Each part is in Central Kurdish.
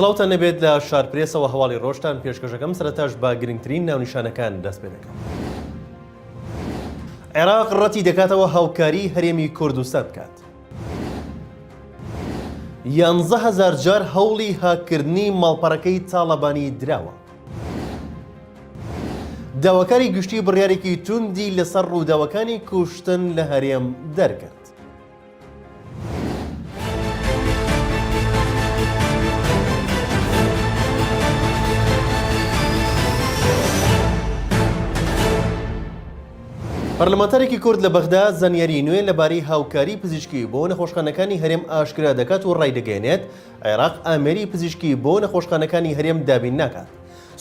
سڵاوتان نەبێت لە شارپرێسەوە هەواڵی ڕۆشتان پێشکەشەکەم سەرتاش بە گرنگترین ناونیشانەکان دەست پێ دەکەم. عێراق ڕەتی دەکاتەوە هاوکاری هەرێمی کوردستان بکات. یانزە هەزار جار هەوڵی هاککردنی ماڵپەڕەکەی تاڵەبانی دراوە. داواکاری گشتی بڕیارێکی توندی لەسەر ڕووداوەکانی کوشتن لە هەرێم دەرکرد. پەرلەمانتارێکی کورد لە بەغدا زانیاریی نوێ لەبارەی هاوکاریی پزیشکی بۆ نەخۆشخانەکانی هەرێم ئاشکرا دەکات و ڕایدەگەیەنێت، عێراق ئامێری پزیشکی بۆ نەخۆشخانەکانی هەرێم دابین ناکات.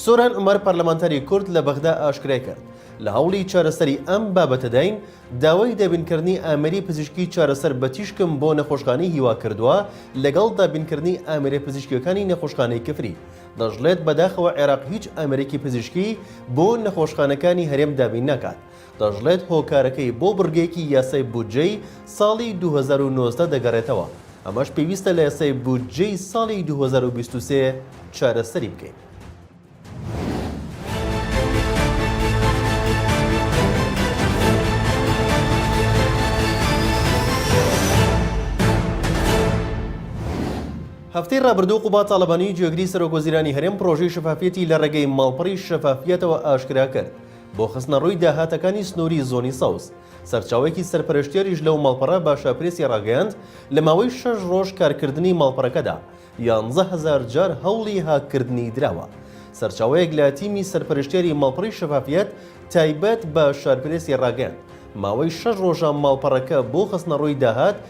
سۆران عومەر پەرلەمانتاری کورد لە بەغدا ئاشکرایکرد، لە هەوڵی چارەسەری ئەم بابەتەداین، داوای دابینکردنی ئامێری پزیشکی چارەسەر بە تیشکم بۆ نەخۆشخانەی هیوا کردووە لەگەڵ دابینکردنی ئامێرە پزیشکییەکانی نەخۆشخانەی کفری دەشڵێت، بەداخەوە عێراق هیچ ئامێرێکی پزیشکی بۆ نەخۆشخانەکانی هەرێم دابین ناکات. دەشڵێت، هۆکارەکەی بۆ بڕگەیەکی یاسای بودجەی ساڵی دوو هەزار و نۆزدە دەگەڕێتەوە، ئەمەش پێویستە لە یاسای بودجەی ساڵی دوو هەزار و بیست و سێ چارەسەری بکەین. هەفتەی ڕابردوو قوباد تاڵەبانی جێگری سەرۆکوەزیرانی هەرێم پڕۆژەی شەفافیەتی لە ڕێگەی ماڵپەڕی شەفافیەتەوە ئاشکرا کرد بۆ خستنەڕووی داهاتەکانی سنووری زۆنی سەوز سەرچاوەیەکی سەرپەرشتیاریش لەو ماڵپەڕە بە شاپرێسی ڕاگەیاند لە ماوەی شەش ڕۆژ کارکردنی ماڵپەرەکەدا یانزە هەزار جار هەوڵی هاککردنی دراوە سەرچاوەیەک لە تیمی سەرپەرشتیاری ماڵپەڕی شەفافیەت تایبەت بە شارپرێسی ڕاگەیاند ماوەی شەش ڕۆژە ماڵپەڕەکە بۆ خستنەڕووی داهات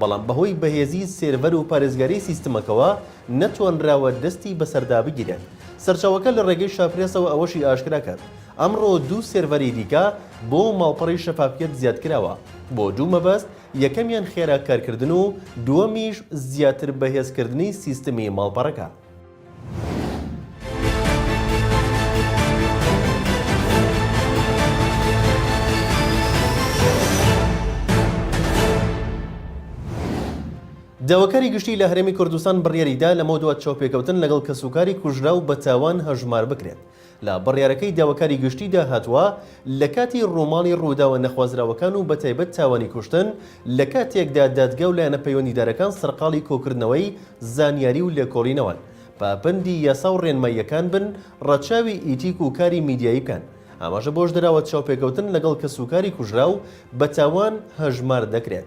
بەڵام بەهۆی بەهێزی سێرڤەر و پارێزگاری سیستمەکەوە نەتوانراوە دەستی بەسەردا بگیرێت. سەرچاوەکە لە ڕێگەی شاپرێسەوە ئەوەشی ئاشکرا کرد، ئەمڕۆ دوو سێرڤەری دیکە بۆ ماڵپەڕی شەفافیەت زیادکراوە بۆ دوو مەبەست، یەکەمیان خێرا کارکردن و دووەمیش زیاتر بەهێزکردنی سیستمی ماڵپەڕەکە. داواکاری گشتی لە هەرێمی کوردستان بڕیاریدا لەمەودوا چاوپێکەوتن لەگەڵ کەسوکاری کوژراو بە تاوان هەژمار بکرێت. لە بڕیارەکەی داواکاری گشتیدا هاتووە، لە کاتی ڕووماڵی ڕووداوە نەخوازراوەکان و بەتایبەت تاوانی کوشتن، لە کاتێکدا دادگا و لایەنە پەیوەندیدارەکان سەرقاڵی کۆکردنەوەی زانیاری و لێکۆڵینەوەن، پابەندی یاسا و ڕێنماییەکان بن، ڕەچاوی ئیتیک و کاری میدیایی بکەن. ئاماژە بەوەش دراوە، چاوپێکەوتن لەگەڵ کەسوکاری کوژراو بە تاوان هەژمار دەکرێت،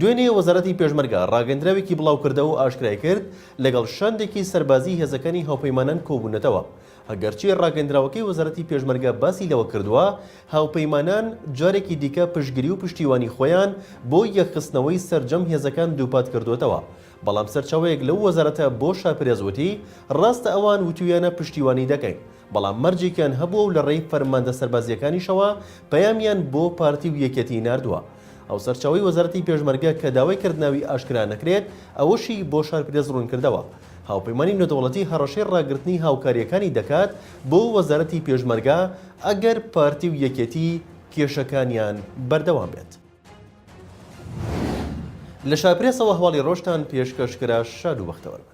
دوێنێ وەزارەتی پێشمەرگە ڕاگەندراوێکی بڵاوکردەوە و ئاشکرایکرد، لەگەڵ شاندێکی سەربازیی هێزەکانی هاوپەیمانان کۆبوونەتەوە. ئەگەرچی ڕاگەندراوەکەی وەزارەتی پێشمەرگە باسی لەوە کردووە، هاوپەیمانان جارێکی دیکە پشتگری و پشتیوانی خۆیان بۆ یەکخستنەوەی سەرجەم هێزەکان دووپات کردووەتەوە، بەڵام سەرچاوەیەک لەو وەزارەتە بۆ شاپرێس وتی، ڕاستە ئەوان وتوویانە پشتیوانی دەکەین، بەڵام مەرجێکیان هەبووە و لە ڕێی فەرماندە سەربازییەکانیشەوە پەیامیان بۆ پارتی و یەکێتیی ناردووە. ئەو سەرچاوەی وەزارەتی پێشمەرگە کە داوای کرد ناوی ئاشکرا نەکرێت، ئەوەشی بۆ شارپرێس ڕوونکردەوە، هاوپەیمانی نێودەوڵەتی هەڕەشەی ڕاگرتنی هاوکارییەکانی دەکات بۆ وەزارەتی پێشمەرگە ئەگەر پارتی و یەکێتی کێشەکانیان بەردەوام بێت. لە شارپرێسەوە هەواڵی ڕۆژتان پێشکەش کرا شاد و بەختەوەربن.